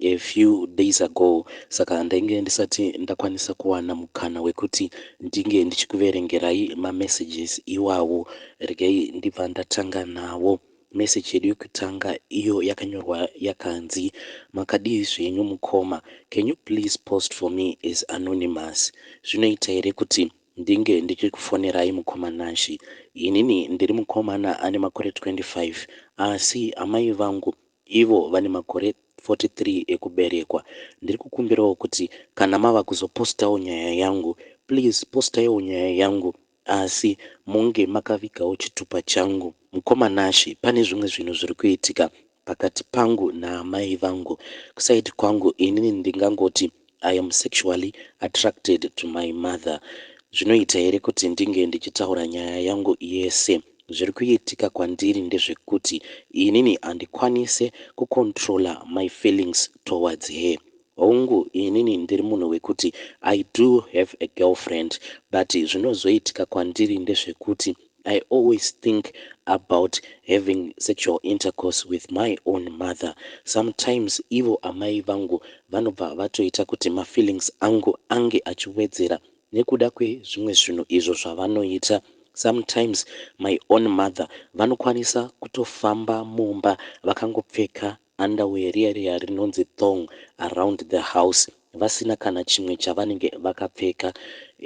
A few days ago saka ndainge ndisati ndakwanisa kuwana mukana wekuti ndinge ndichikuverengerai mamessages iwawo. Regai ndibva ndatanga nawo. Message yedu yekutanga iyo yakanyorwa yakanzi, Makadii zvenyu mukoma? Can you please post for me as anonymous? Zvinoita here kuti ndinge ndichikufonerai mukoma Nashy? Inini ndiri mukomana ane makore 25 asi amai vangu Ivo vane makore 43 ekuberekwa. Ndiri kukumbirawo kuti kana mava kuzopostawo nyaya yangu please postaiwo nyaya yangu asi munge makavigawo chitupa changu. Mukoma Nashy pane zvimwe zvinhu zviri kuitika pakati pangu naamai vangu. Kuside kwangu inini ndingangoti I am sexually attracted to my mother zvinoita here kuti ndinge ndichitaura nyaya yangu yese? Zviri kuitika kwandiri ndezvekuti inini handikwanise kucontroller my feelings towards her. Hongu inini ndiri munhu wekuti I do have a girlfriend but zvinozoitika kwandiri ndezvekuti I always think about having sexual intercourse with my own mother sometimes ivo amai vangu vanobva vatoita kuti mafeelings angu ange achiwedzera nekuda kwezvimwe zvinhu izvo zvavanoita sometimes my own mother vanokwanisa kutofamba mumba vakangopfeka underwear riya riya rinonzi thong around the house vasina kana chimwe chavanenge vakapfeka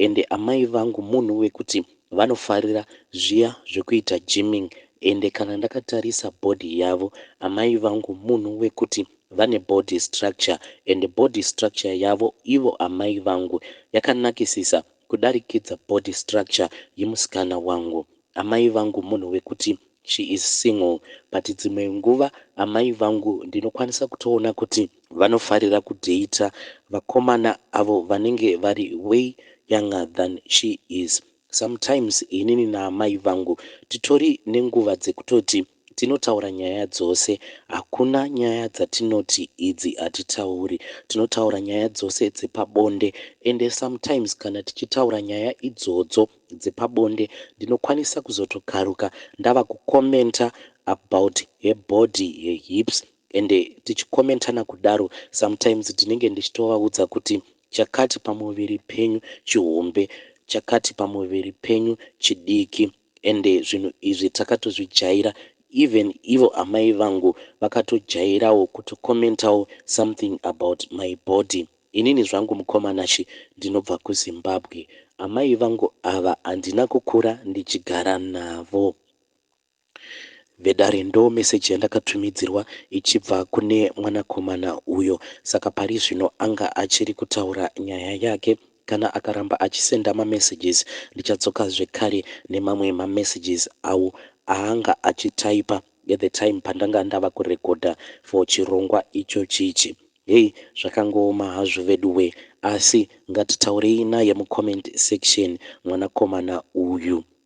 ende amai vangu munhu wekuti vanofarira zviya zvekuita gymming ende kana ndakatarisa body yavo amai vangu munhu wekuti vane body structure ende body structure yavo ivo amai vangu yakanakisisa kudarikidza body structure yemusikana wangu Amai vangu munhu wekuti she is single but dzimwe nguva amai vangu ndinokwanisa kutoona kuti vanofarira kudater vakomana avo vanenge vari way younger than she is. Sometimes inini naamai vangu titori nenguva dzekutoti. Tinotaura nyaya dzose. Hakuna nyaya dzatinoti idzi hatitauri. Tinotaura nyaya dzose dzepabonde ende sometimes kana tichitaura nyaya idzodzo dzepabonde ndinokwanisa kuzotokaruka ndava kucommenter about her body, her hips ende tichicommentana kudaro sometimes ndinenge ndichitovaudza kuti chakati pamuviri penyu chihombe, chakati pamuviri penyu chidiki. ende zvinhu izvi takatozvijaira even ivo amai vangu vakatojairawo kutocommentawo something about my body. Inini zvangu mukoma Nashy ndinobva kuZimbabwe. Amai vangu ava handina kukura ndichigara navo. Vedare ndoo message yandakatumidzirwa ichibva kune mwanakomana uyo saka parizvino anga achiri kutaura nyaya yake Kana akaramba achisenda ma messages ndichadzoka zvekare nemamwe ma messages awo aanga achityper at the time pandanga ndava kurecorder for chirongwa ichochi ichi. Hey zvakangooma hazvo veduwee asi ngatitaurei naye mu comment section mwanakomana uyu.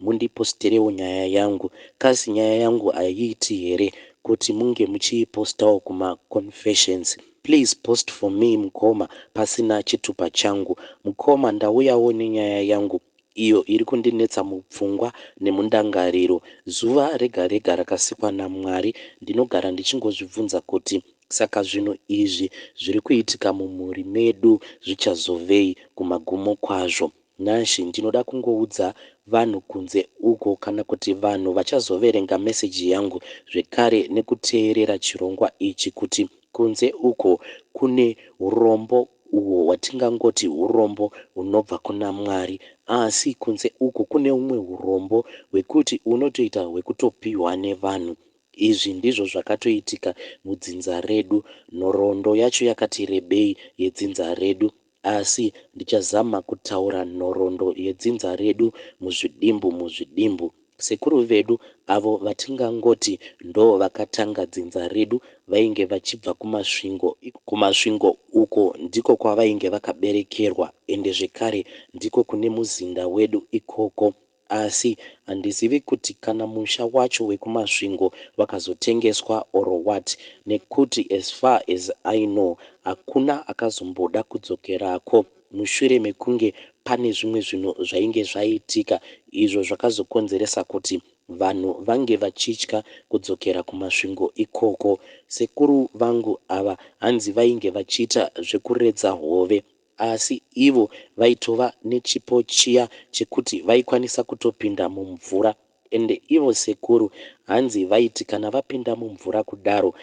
Mundiposterewo nyaya yangu caz nyaya yangu haiiti here kuti munge muchiipostawo kuma confessions. Please post for me mukoma pasina chitupa changu. Mukoma ndauyawo nenyaya yangu iyo iri kundinetsa mupfungwa nemundangariro. Zuva rega rega rakasikwa naMwari ndinogara ndichingozvibvunza kuti saka zvinhu izvi zviri kuitika mumhuri medu zvichazovei kumagumo kwazvo. Nancy ndinoda kungoudza vanhu kunze uko kana kuti vanhu vachazoverenga meseji yangu zvekare nekuteerera chirongwa ichi kuti kunze uko kune hurombo uhwo hwatingangoti hurombo hunobva kuna Mwari asi kunze uko kune humwe hurombo hwekuti unotoita hwekutopihwa nevanhu. Izvi ndizvo zvakatoitika mudzinza redu. Nhoroondo yacho yakati rebei yedzinza redu. Asi ndichazama kutaura nhoroondo yedzinza redu muzvidimbu muzvidimbu. Sekuru vedu avo vatingangoti ndoo vakatanga dzinza redu vainge vachibva kuMasvingo. KuMasvingo uko ndiko kwavainge vakaberekerwa ende zvekare ndiko kune muzinda wedu ikoko. Asi handizivi kuti kana musha wacho wekuMasvingo wakazotengeswa or what nekuti as far as I know hakuna akazomboda kudzokerako mushure mekunge pane zvimwe zvinhu zvainge zvaitika izvo zvakazokonzeresa kuti vanhu vange vachitya kudzokera kuMasvingo ikoko. Sekuru vangu ava hanzi vainge vachiita zvekuredza hove. Asi ivo vaitova nechipo chiya chekuti vaikwanisa kutopinda mumvura ende ivo sekuru hanzi vaiti kana vapinda mumvura kudaro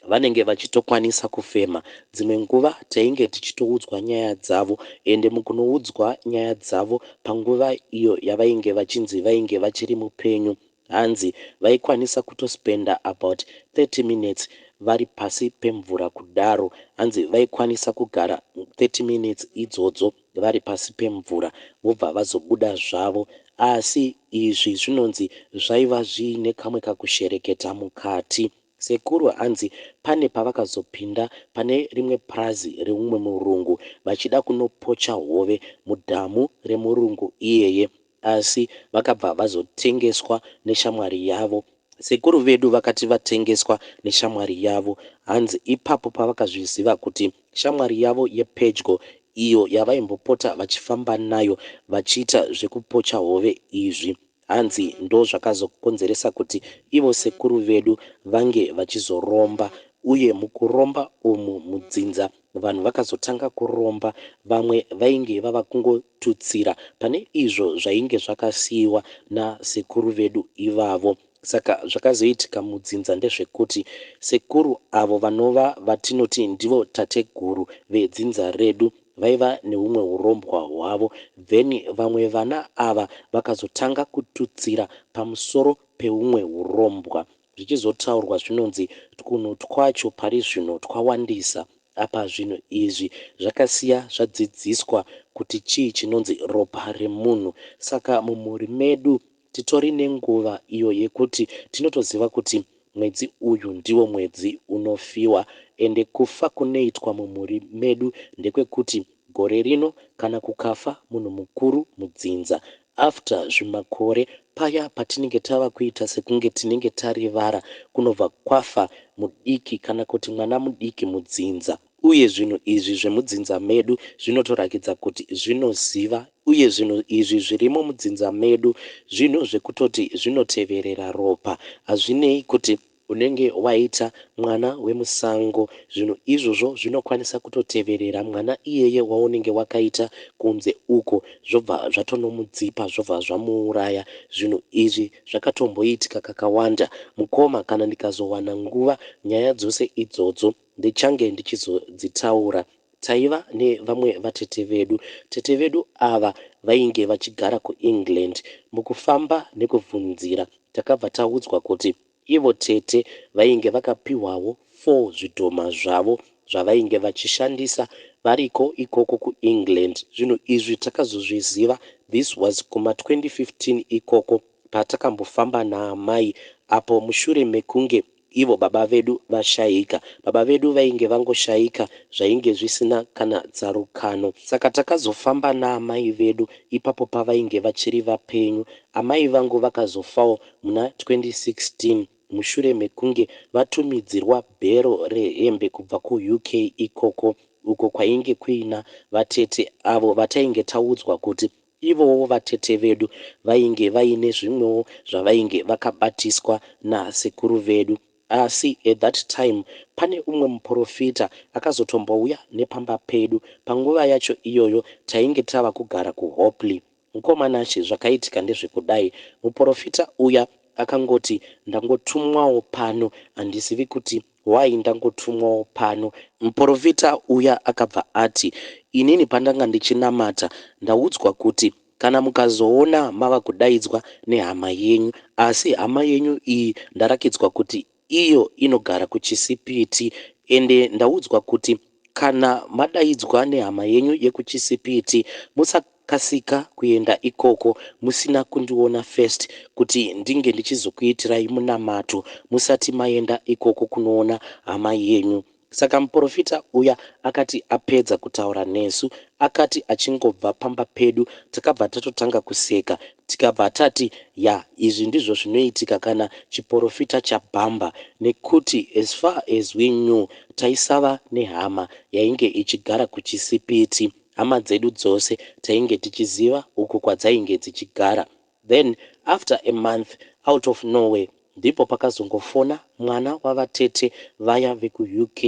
vanenge vachitokwanisa kufema. Dzimwe nguva tainge tichitoudzwa nyaya dzavo ende mukunoudzwa nyaya dzavo panguva iyo yavainge vachinzi vainge vachiri mupenyu Hanzi vaikwanisa kuto spender about 30 minutes vari pasi pemvura kudaro. Hanzi vaikwanisa kugara 30 minutes idzodzo vari pasi pemvura vobva vazobuda zvavo. Asi izvi zvinonzi zvaiva zviine kamwe kakushereketa mukati. Sekuru hanzi pane pavakazopinda pane rimwe purazi reumwe murungu vachida kunopocha hove mudhamu remurungu iyeye. asi vakabva vazotengeswa neshamwari yavo. Sekuru vedu vakati vatengeswa neshamwari yavo hanzi ipapo pavakazviziva kuti shamwari yavo yepedyo iyo yavaimbopota vachifamba nayo vachiita zvekupocha hove izvi hanzi ndozvakazokonzeresa kuti ivo sekuru vedu vange vachizoromba uye mukuromba umu mudzinza Vanhu vakazotanga kuromba, vamwe vainge vava kungotutsira pane izvo zvainge zvakasiiwa nasekuru vedu ivavo. Saka zvakazoitika mudzinza ndezvekuti sekuru avo vanova vatinoti ndivo tateguru vedzinza redu vaiva nehumwe hurombwa hwavo then vamwe vana ava vakazotanga kututsira pamusoro pehumwe hurombwa zvichizotaurwa zvinonzi twunhu twacho pari zvino twawandisa. Apa zvinhu izvi zvakasiya zvadzidziswa kuti chii chinonzi ropa remunhu. Saka mumhuri medu titori nenguva iyo yekuti tinotoziva kuti mwedzi uyu ndiwo mwedzi unofiwa ende kufa kunoitwa mumhuri medu ndekwekuti Gore rino kana kukafa munhu mukuru mudzinza after zvimakore paya patinenge tava kuita sekunge tinenge tarivara kunobva kwafa mudiki kana kuti mwana mudiki mudzinza uye zvinhu izvi zvemudzinza medu zvinotorakidza kuti zvinoziva uye zvinhu izvi zvirimo mudzinza medu zvinhu zvekutoti zvinoteverera ropa hazvinei kuti Unenge waita mwana wemusango. Zvinhu izvozvo zvinokwanisa kutoteverera mwana iyeye waunenge wakaita kunze uko zvobva zvatonomudzipa zvobva zvamuuraya. Zvinhu izvi zvakatomboitika kakawanda. Mukoma kana ndikazowana nguva nyaya dzose idzodzo ndichange ndichizodzitaura. Taiva nevamwe vatete vedu. Tete vedu ava vainge vachigara kuEngland. Mukufamba nekubvunzira takabva taudzwa kuti. Ivo tete vainge vakapihwawo four zvidhoma zvavo zvavainge vachishandisa variko ikoko kuEngland. Zvinhu izvi takazozviziva this was kuma 2015 ikoko patakambofamba naamai apo mushure mekunge ivo baba vedu vashaika. Baba vedu vainge vangoshaika zvainge zvisina kana tsarukano. Saka takazofamba naamai vedu ipapo pavainge vachiri vapenyu. Amai vangu vakazofawo muna 2016 mushure mekunge vatumidzirwa bhero rehembe kubva kuUK ikoko uko kwainge kuina vatete avo vatainge taudzwa kuti ivowo vatete vedu vainge vaine zvimwewo zvavainge vakabatiswa nasekuru vedu asi at that time pane umwe muporofita akazotombouya nepamba pedu panguva yacho iyoyo tainge tava kugara kuHopley Mkoma Nashe zvakaitika ndezvekudai muporofita uya akangoti ndangotumwawo pano handizivi kuti why ndangotumwawo pano. Muporofita uya akabva ati inini pandanga ndichinamata ndaudzwa kuti kana mukazoona mava kudaidzwa nehama yenyu asi hama yenyu iyi ndarakidzwa kuti iyo inogara kuChisipiti ende ndaudzwa kuti kana madaidzwa nehama yenyu yekuChisipiti musakasika kuenda ikoko musina kundiona first kuti ndinge ndichizokuitirai munamato musati maenda ikoko kunoona hama yenyu Saka muporofita uya akati apedza kutaura nesu akati achingobva pamba pedu takabva tatotanga kuseka tikabva tati yah izvi ndizvo zvinoitika kana chiporofita chabhamber nekuti as far as we knew taisava nehama yainge ichigara kuChisipiti hama dzedu dzose tainge tichiziva uko kwadzainge dzichigara Then after a month out of nowhere ndipo pakazongofona mwana wavatete vaya vekuUK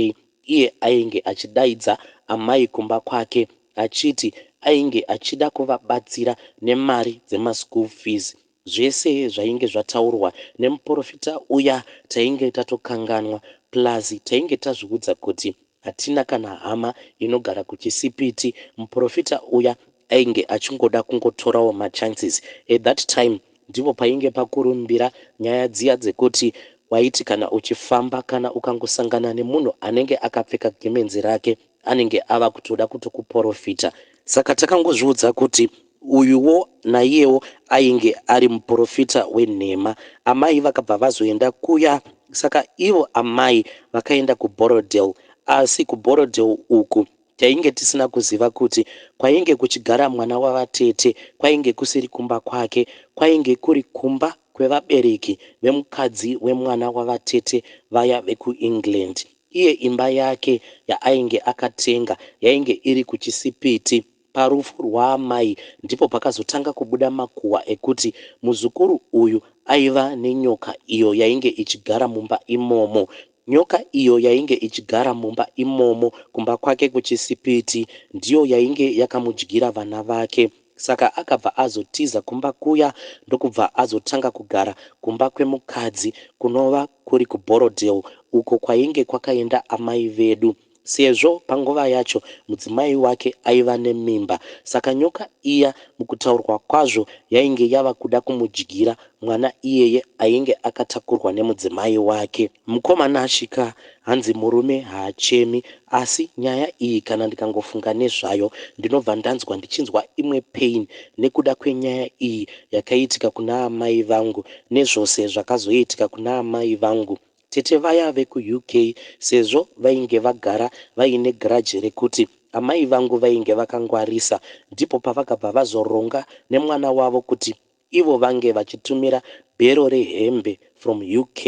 iye ainge achidaidza amai kumba kwake achiti ainge achida kuvabatsira nemari dzemaschool fees. Zvese zvainge zvataurwa nemuporofita uya tainge tatokanganwa plus tainge tazviudza kuti Hatina kana hama inogara kuchisipiti. Muporofita uya ainge achingoda kungotorawo machances. At that time ndipo painge pakurumbira nyaya dziya dzekuti waiti kana uchifamba kana ukangosangana nemunhu anenge akapfeka gemenzi rake anenge ava kutoda kutokuporofita. Saka takangozviudza kuti Uyuwo naiyewo ainge ari muporofita wenhema. Amai vakabva vazoenda kuya saka ivo amai vakaenda kuBorrowdale asi kuBorrowdale uku tainge tisina kuziva kuti kwainge kuchigara mwana wavatete kwainge kusiri kumba kwake kwainge kuri kumba kwevabereki vemukadzi wemwana wavatete vaya vekuEngland. Iye imba yake yaainge akatenga yainge iri kuChisipiti. Parufu rwaamai ndipo pakazotanga kubuda makuhwa ekuti muzukuru uyu aiva nenyoka iyo yainge ichigara mumba imomo. Nyoka iyo yainge ichigara mumba imomo kumba kwake kuChisipiti ndiyo yainge yakamudyira vana vake saka akabva azotiza kumba kuya ndokubva azotanga kugara kumba kwemukadzi kunova kuri kuBorrowdale uko kwainge kwakaenda amai vedu. Sezvo panguva yacho mudzimai wake aiva nemimba, saka nyoka iya mukutaurwa kwazvo yainge yava kuda kumudyira mwana iyeye ainge akatakurwa nemudzimai wake. Mkoma Nashy ka hanzi murume haachemi asi nyaya iyi kana ndikangofunga nezvayo ndinobva ndanzwa ndichinzwa imwe pain nekuda kwenyaya iyi yakaitika kuna amai vangu nezvose zvakazoitika kuna amai vangu Tete vaya veku UK sezvo vainge vagara vaine grudge rekuti amai vangu vainge vakangwarisa ndipo pavakabva vazoronga nemwana wavo kuti ivo vange vachitumira bhero rehembe from UK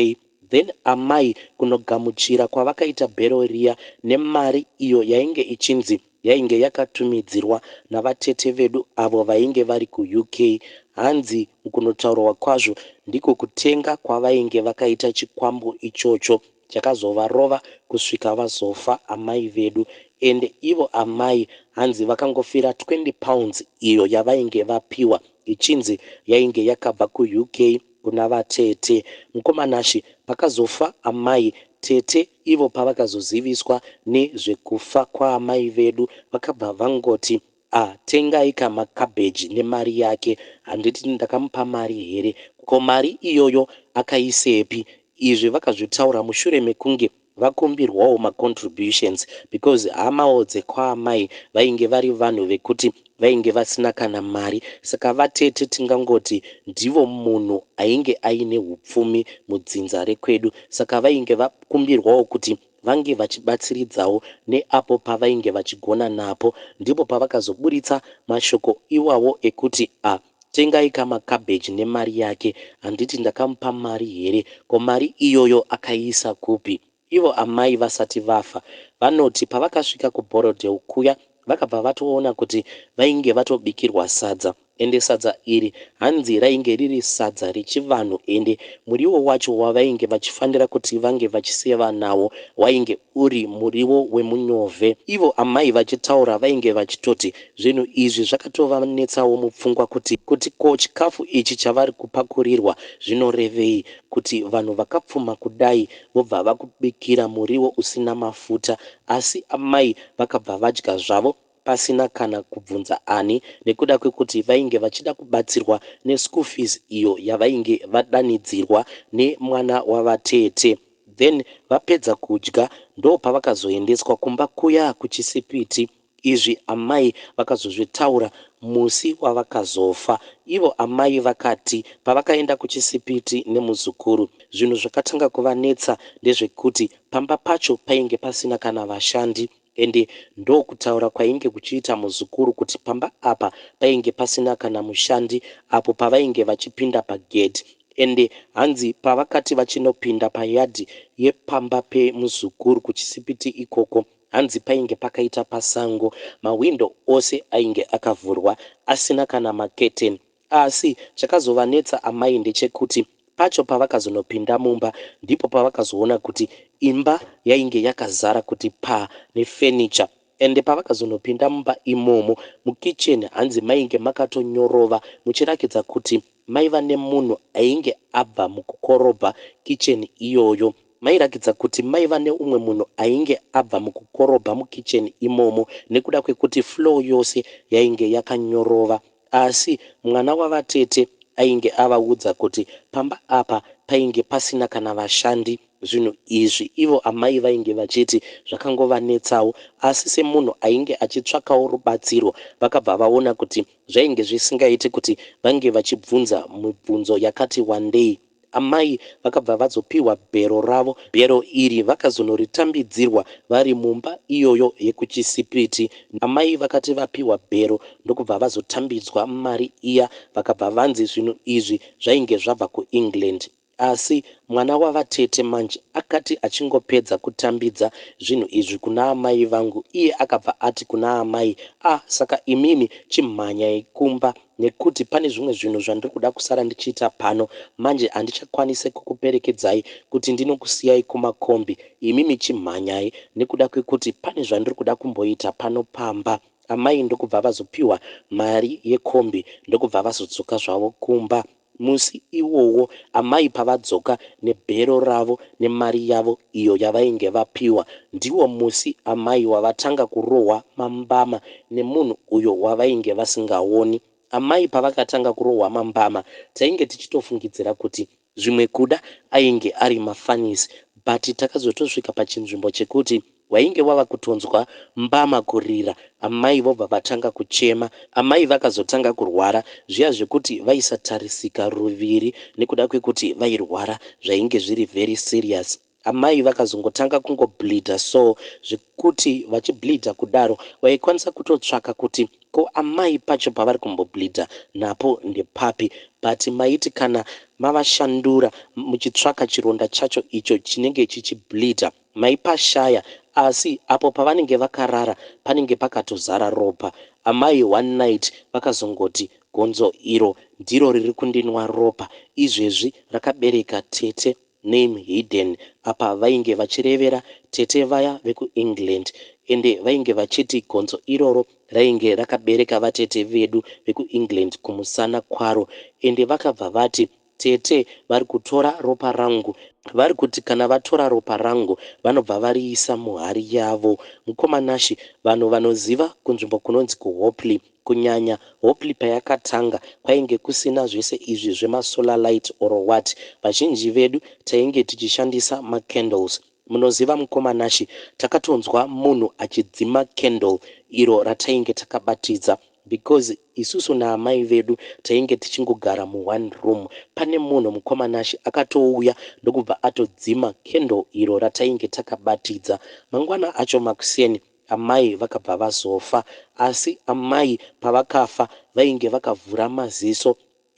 then amai kunogamuchira kwavakaita bhero riya nemari iyo yainge ichinzi Yainge yakatumidzirwa navatete vedu avo vainge vari kuUK. Hanzi mukunotaurwa kwazvo ndiko kutenga kwavainge vakaita chikwambo ichocho chakazovarova kusvika vazofa amai vedu ende ivo amai hanzi vakangofira 20 pounds iyo yavainge vapiwa ichinzi yainge yakabva kuUK kuna vatete. Mukoma Nashy pakazofa amai, tete Ivo pavakazoziviswa ne zvekufa kwaamai vedu vakabva vangoti ah tengai ka ma cabbage ne mari yake handiti ndakamupa mari here ko mari iyoyo akaisepi izvi vakazvitaura mushure mekunge vakumbirwawo ma contributions because hamawo dzekwaamai vainge vari vanhu vekuti Vainge vasina kana mari saka vatete tingangoti ndivo munhu ainge aine hupfumi mudzinza rekwedu saka vainge vakumbirwawo kuti vange vachibatsiridzawo neapo pavainge vachigona napo. Ndipo pavakazoburitsa mashoko iwawo ekuti a tengai ka macabbage nemari yake. Handiti ndakamupa mari here? Ko mari iyoyo akaiisa kupi? Ivo amai vasati vafa vanoti pavakasvika kuBorrowdale kuya vakabva vatoona kuti vainge vatobikirwa sadza ende sadza iri hanzi rainge riri sadza rechivanhu ende muriwo wacho wavainge vachifanira kuti vange vachiseva nawo wainge uri muriwo wemunyove. Ivo amai vachitaura vainge vachitoti zvinhu izvi zvakatovanetsawo mupfungwa kuti kuti ko chikafu ichi chavari kupakurirwa zvinorevei kuti vanhu vakapfuma kudai vobva vakubikira muriwo usina mafuta asi amai vakabva vadya zvavo pasina kana kubvunza ani nekuda kwekuti vainge vachida kubatsirwa neschool fees iyo yavainge vadanidzirwa nemwana wavatete. Then vapedza kudya ndopavakazoendeswa kumba kuya kuChisipiti Izvi amai vakazozvitaura musi wavakazofa. Ivo amai vakati pavakaenda kuChisipiti nemuzukuru, zvinhu zvakatanga kuvanetsa ndezvekuti pamba pacho painge pasina kana vashandi ende ndokutaura kwainge kuchiita muzukuru kuti pamba apa painge pasina kana mushandi apo pavainge vachipinda pagedhi ende hanzi pavakati vachinopinda payadhi yepamba pemuzukuru kuChisipiti ikoko Hanzi painge pakaita pasango, mahwindo ose ainge akavhurwa asina kana macurtain. Asi chakazovanetsa amai ndechekuti pacho pavakazonopinda mumba ndipo pavakazoona kuti imba yainge yakazara kuti paa nefurniture ende pavakazonopinda mumba imomo mukitchen hanzi mainge makatonyorova muchirakidza kuti maiva nemunhu ainge abva mukukorobha kitchen iyoyo. Mairakidza kuti maiva neumwe munhu ainge abva mukukorobha mukitchen imomo nekuda kwekuti floor yose yainge yakanyorova asi mwana wavatete ainge avaudza kuti pamba apa painge pasina kana vashandi zvinhu izvi ivo amai vainge vachiti zvakangovanetsawo asi semunhu ainge achitsvakawo rubatsiro vakabva vaona kuti zvainge zvisingaiti kuti vange vachibvunza mibvunzo yakati wandei Amai vakabva vazopihwa bhero ravo. Bhero iri vakazonoritambidzirwa vari mumba iyoyo yekuChisipiti. Amai vakati vapihwa bhero ndokubva vazotambidzwa mari iya vakabva vanzi zvinhu izvi zvainge zvabva kuEngland. Asi mwana wavatete manje akati achingopedza kutambidza zvinhu izvi kuna amai vangu iye akabva ati kuna amai, ah saka imimi chimhanyai kumba. nekuti pane zvimwe zvinhu zvandiri kuda kusara ndichiita pano manje handichakwanise kukuperekedzai kuti ndinokusiyai kumakombi imi michimhanyai nekuda kwekuti pane zvandiri kuda kumboita pano pamba amai ndokubva vazopiwa mari yekombi ndokubva vazodzoka zvavo kumba Musi iwowo amai pavadzoka nebhero ravo nemari yavo iyo yavainge vapiwa ndiwo musi amai wavatanga kurohwa mambama nemunhu uyo wavainge vasingaoni. Amai pavakatanga kurohwa mambama tainge tichitofungidzira kuti zvimwe kuda ainge ari mafunnies but takazotosvika pachinzvimbo chekuti Wainge wava kutonzwa mbama kurira amai vobva vatanga kuchema. Amai vakazotanga kurwara zviya zvekuti vaisatarisika ruviri nekuda kwekuti vairwara zvainge zviri very serious. Amai vakazongotanga kungo bleeder so zvekuti vachi bleeder kudaro waikwanisa kutotsvaka kuti ko amai pacho pavari kumbo bleeder napo ndepapi but maiti kana mavashandura muchitsvaka chironda chacho icho chinenge chichi bleeder Mai Pashaya, Asi apo pavanenge vakarara panenge pakatozara ropa. Amai one night vakazongoti gonzo iro ndiro riri kundinwa ropa izvezvi rakabereka tete name hidden apa vainge vachirevera tete vaya veku England ende vainge vachiti gonzo iroro rainge rakabereka vatete vedu veku England kumusana kwaro ende vakabva vati Tete vari kutora ropa rangu. Vari kuti kana vatora ropa rangu vanobva variisa muhari yavo. Mukoma Nashy, vanhu vanoziva kunzvimbo kunonzi kuHopley. Kunyanya Hopley payakatanga kwainge kusina zvese izvi zvema solar light or what. Vazhinji vedu tainge tichishandisa ma candles. Munoziva mukoma Nashy, takatonzwa munhu achidzima candle iro ratainge takabatidza because. Isusu naamai vedu tainge tichingogara mu one room pane munhu mukoma Nashy akatouya ndokubva atodzima candle iro ratainge takabatidza. Mangwana acho makuseni amai vakabva vazofa asi amai pavakafa vainge vakavhura maziso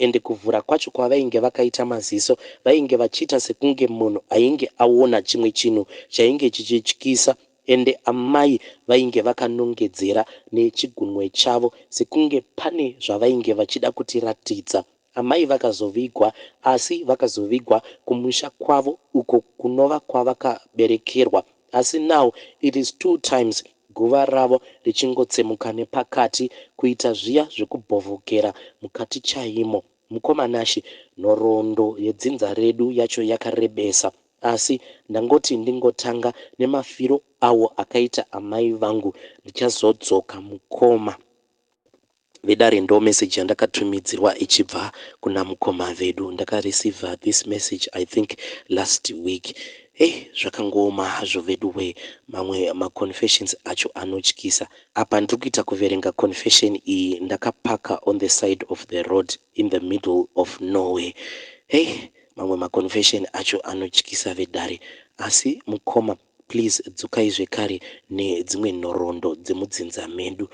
Ende kuvhura kwacho kwavainge vakaita maziso vainge vachiita sekunge munhu ainge aona chimwe chinhu chainge chichityisa ende amai vainge vakanongedzera nechigunwe chavo sekunge pane zvavainge vachida kutiratidza. Amai vakazovigwa asi vakazovigwa kumusha kwavo uko kunova kwavakaberekerwa asi now it is two times Guva ravo richingotsemuka nepakati kuita zviya zvekubhovhokera mukati chaimo. Mukoma Nashy, nhoroondo yedzinza redu yacho yakarebesa asi ndangoti ndingotanga nemafiro awo akaita amai vangu ndichazodzoka mukoma. vedare ndo message yandakatumidzirwa ichibva kuna mukoma vedu ndaka receiver this message I think last week hey zvakangooma hazvo veduwee mamwe ma confessions acho anotyisa apa ndiri kuita kuverenga confession iyi ndakapaka on the side of the road in the middle of nowhere hey mamwe ma confession acho anotyisa vedare asi mukoma Pliz dzokai zvekare nedzimwe nhoroondo dzemudzinza medu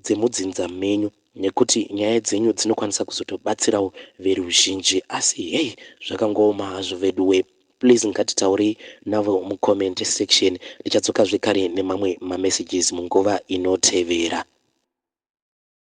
dzemudzinza menyu nekuti nyaya dzenyu dzinokwanisa kuzotobatsirawo veruzhinji asi hey zvakangooma hazvo veduwee please ngatitaurei navo mucomment section ndichadzoka zvekare nemamwe mamessages munguva inotevera